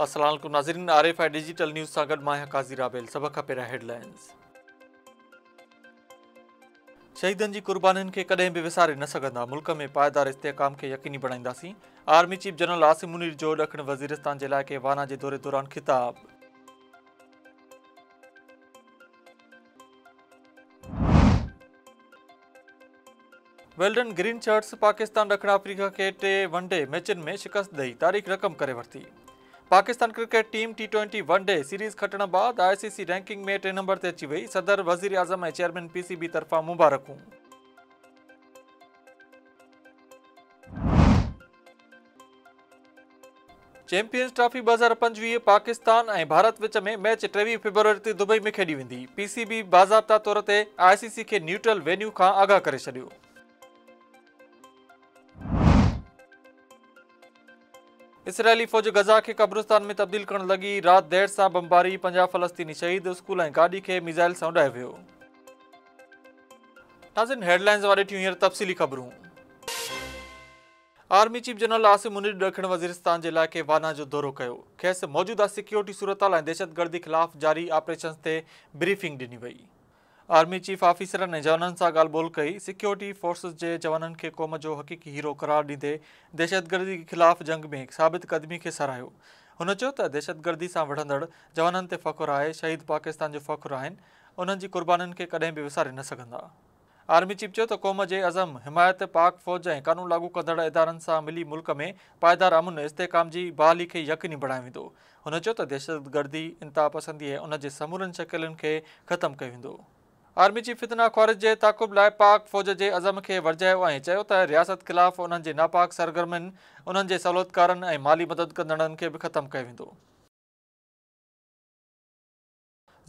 السلام عليڪم ناظرين R F I digital news سان گڏ مان قاضي رابيل سڀ کان پهريان هيڊلائنز شهيدن جي قربانين کي ڪڏهن به وساري نه سگهندا ملڪ ۾ پائيدار استحڪام کي يقيني بڻائينداسين army chief general Asim Munir جو ڏکڻ وزيرستان جي علائقي وانا جي دوري دوران خطاب ويلڊن گرين شرٽس پاڪستان ڏکڻ آفريڪا کي ٽي ون ڊي ميچن ۾ شڪست ڏئي تاريخ رقم ڪري ورتي Pakistan cricket team T twenty one day series کٽڻ بعد آء سي سي رينڪنگ ۾ ٽي نمبر تي اچي وئي صدر وزير اعظم ۽ چيئرمين پي سي بي طرفان مبارڪون چيمپيئنز ٽرافي ٻه هزار پنجويهه پاڪستان ۽ ڀارت وچ ۾ ميچ ٽيويهه فيبروري تي دبئي ۾ کيڏي ويندي پي سي بي باضابطا طور تي آء سي سي کي نيوٽرل وينيو کان آگاهه ڪري ڇڏيو اسرائيلي فوج غزا کي قبرستان ۾ تبديل ڪرڻ لڳي رات دير سان بمباري پنجاهه فلسطيني شهيد اسڪول ۽ گاڏي کي ميزائل سان اڏايو ويو ناظرين هيڊلائنز واري ٺيون هينئر تفصيلي خبرون army chief general Asim Munir ڏکڻ وزيرستان جي علائقي وانا جو دورو ڪيو، کيس موجوده سيڪيورٽي صورتحال ۽ دهشتگردي خلاف جاري آپريشنز تي بريفنگ ڏني وئي. آرمي چيف آفيسرن ۽ جوانن سان ڳالهه ٻولهه ڪئي، سيڪيورٽي فورسز جي جوانن کي قوم جو حقيقي هيرو قرار ڏيندي دهشتگردي خلاف جنگ ۾ ثابت قدمي کي ساراهيو. هن چيو ته دهشتگردي سان وڙهندڙ جوانن تي فخر آهي، شهيد پاڪستان جو فخر آهن، انهن جي قربانين کي ڪڏهن به وساري نه سگهندا. آرمي چيف چيو ته قوم جي عزم، حمايت، پاڪ فوج ۽ قانون لاڳو ڪندڙ ادارن سان ملي ملڪ ۾ پائيدار امن، استحڪام جي بحالي کي يقيني بڻايو ويندو. هن چيو ته دهشتگردي، انتهاپسندي ۽ ان جي سمورين شڪلين کي ختم ڪيو ويندو. آرمي چيف فتنه خوارج جي تعاقب لاء پاڪ فوج جي عزم کي ورجايو ۽ چيو ته رياست خلاف انهن جي ناپاڪ سرگرمين، انهن جي سهولتڪارن ۽ مالي مدد ڪندڙن کي به ختم ڪيو ويندو.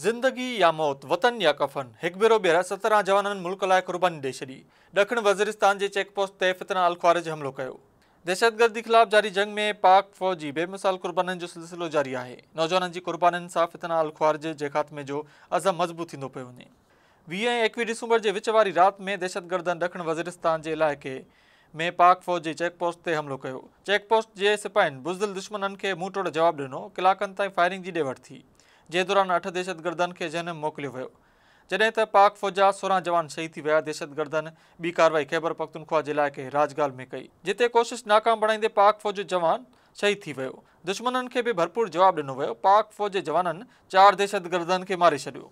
زندگي يا موت، وطن يا ڪفن، هڪ ڀيرو ٻيهر سترهن جوانن ملڪ لاء قرباني ڏئي ڇڏي، ڏکڻ وزيرستان جي چيڪ پوسٽ تي فتنه الخوارج حملو ڪيو. دهشتگردي خلاف جاري جنگ ۾ پاڪ فوج جي بي مثال قربانين جو سلسلو جاري آهي، نوجوانن جي قربانين سان فتنه الخوارج جي خاتمي جو عزم مضبوط ٿيندو پيو وڃي. ويهه ۽ ايڪويهه ڊسمبر جي وچ واري رات ۾ دهشتگردن ڏکڻ وزيرستان جي علائقي ۾ پاڪ فوج جي چيڪ پوسٽ تي حملو ڪيو، چيڪ پوسٽ جي سپاهين بزدل دشمنن کي منهن ٽوڙ جواب ڏنو، ڪلاڪن تائين فائرنگ جي ڏي وٺ ٿي، جنهن دوران اٺ دهشتگردن کي جنهن موڪليو ويو جڏهن ته پاڪ فوج جا سورهن جوان شهيد ٿي ويا دهشتگردن ٻي ڪارروائي خيبرپختونخوا جي علائقي راجگال ۾ ڪئي جتي ڪوشش ناڪام بڻائيندي پاڪ فوج جو جوان شهيد ٿي ويو دشمنن کي به ڀرپور جواب ڏنو ويو پاڪ فوج جي جوانن چار دهشتگردن کي ماري ڇڏيو.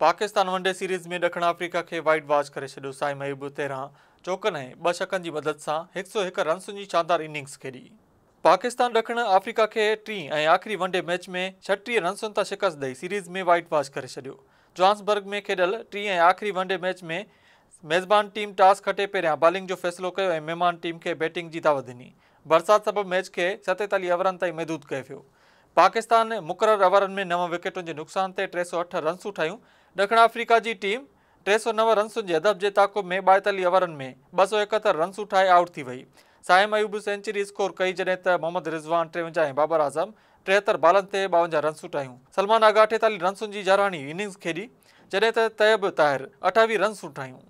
پاڪستان ون ڊي سيريز ۾ ڏکڻ آفريڪا کي وائيٽ واش ڪري ڇڏيو، سائين محبوب تيرهن چوڪن ۽ ٻه ڇڪن جي مدد سان هڪ سؤ هڪ رنسن جي شاندار اننگز کيڏي. پاڪستان ڏکڻ آفريڪا کي ٽين ۽ آخري ون ڊي ميچ ۾ ڇهٽيهه رنسن تان شڪست ڏئي سيريز ۾ وائيٽ واش ڪري ڇڏيو. جوهانسبرگ ۾ کيڏيل ٽين ۽ آخري ون ڊي ميچ ۾ ميزبان ٽيم ٽاس کٽي پهريان بالنگ جو فيصلو ڪيو ۽ مهمان ٽيم کي بيٽنگ جي دعوت ڏني. برسات سبب ميچ کي ستيتاليهه اوورن تائين محدود ڪيو ويو. پاڪستان مقرر اوورن ۾ نو وڪيٽن جي نقصان تي ٽي سؤ اٺ رنسون ٺاهيون. ڏکڻ آفريڪا جي ٽيم ٽي سؤ نو رنسن جي هدف جي تعاقب ۾ ٻائيتاليهه اوورن ۾ ٻه سؤ ايڪهتر رنسون ٺاهي آئوٽ ٿي وئي. صائم ايوب سينچري اسڪور ڪئي جڏهن ته محمد رضوان ٽيونجاهه ۽ بابر اعظم ٽيهتر بالن تي ٻاونجاهه رنسون ٽاهيون، سلمان آغا اٺيتاليهن رنسن جي يارهاڻي اننگز کيڏي، جڏهن ته طيب طاهر اٺاويهه رنسون ٽاهيون.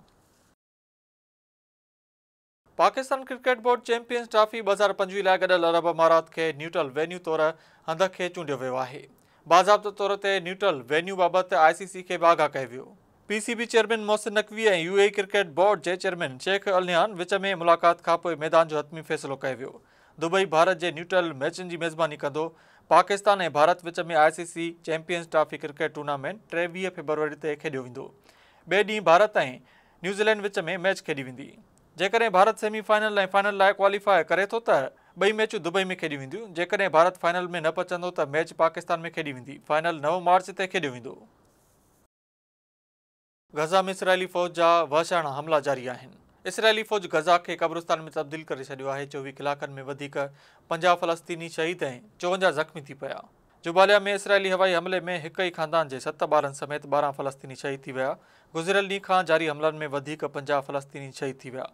Pakistan cricket board champions trophy ٻه هزار پنجويهه لاء گڏيل عرب امارات کي نيوٽرل وينيو طور هنڌ کي چونڊيو ويو آهي. باضابطه طور تي نيوٽرل وينيو بابت آء سي سي کي به آگاهه ڪيو ويو. P C B chairman Mohsin Naqvi ۽ U A E cricket board جي چيئرمين شيخ النهيان وچ ۾ ملاقات کانپوء ميدان جو حتمي فيصلو ڪيو ويو. دبئي ڀارت جي نيوٽرل ميچن جي ميزباني ڪندو. پاڪستان ۽ ڀارت وچ ۾ I C C champions trophy cricket tournament ٽيويهه فيبروري تي کيڏيو ويندو. ٻئي ڏينهن ڀارت ۽ نيوزيلينڊ وچ ۾ ميچ کيڏي ويندي. جيڪڏهن ڀارت سيمي فائنل ۽ فائنل لاء ڪواليفاء ڪري ٿو ته ٻئي ميچون دبئي ۾ کيڏيون وينديون. جيڪڏهن ڀارت فائنل ۾ نه پهچندو ته ميچ پاڪستان ۾ کيڏي ويندي. فائنل نو مارچ تي کيڏيو ويندو. غزه ۾ اسرائيلي فوج جا وحشاڻا حملا جاري آهن، اسرائيلي فوج غزه کي قبرستان ۾ تبديل ڪري ڇڏيو آهي، چوويهه ڪلاڪن ۾ وڌيڪ پنجاهه فلسطيني شهيد ۽ چوونجاهه زخمي ٿي پيا. جباليا ۾ اسرائيلي هوائي حملي ۾ هڪ ئي خاندان جي ست ٻارن سميت ٻارهن فلسطيني شهيد ٿي ويا، گذريل ڏينهن کان جاري حملن ۾ وڌيڪ پنجاهه فلسطيني شهيد ٿي ويا،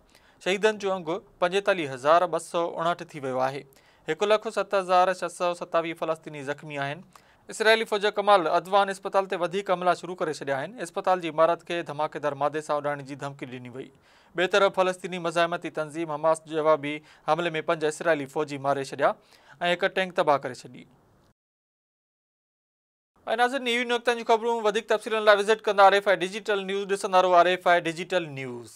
شهيدن جو انگ پنجيتاليهه هزار ٻه سؤ اڻهٺ ٿي ويو آهي، هڪ لک ست هزار ڇهه سؤ ستاويهه فلسطيني زخمي آهن، اسرائيلي فوج ڪمال عدوان اسپتال تي وڌيڪ حملا شروع ڪري ڇڏيا آهن، اسپتال جي عمارت کي ڌماڪيدار مادي سان اڏائڻ جي ڌمڪي ڏني وئي. ٻئي طرف فلسطيني مزاحمتي تنظيم حماس جوابي حملي ۾ پنج اسرائيلي فوجي ماري ڇڏيا ۽ هڪ ٽينڪ تباهه ڪري ڇڏي. اي ناظرين اهي هيون نقطن جون خبرون وڌيڪ تفصيلن لاء وزٽ ڪندا R F I digital news ڏسندا رهو R F I digital news.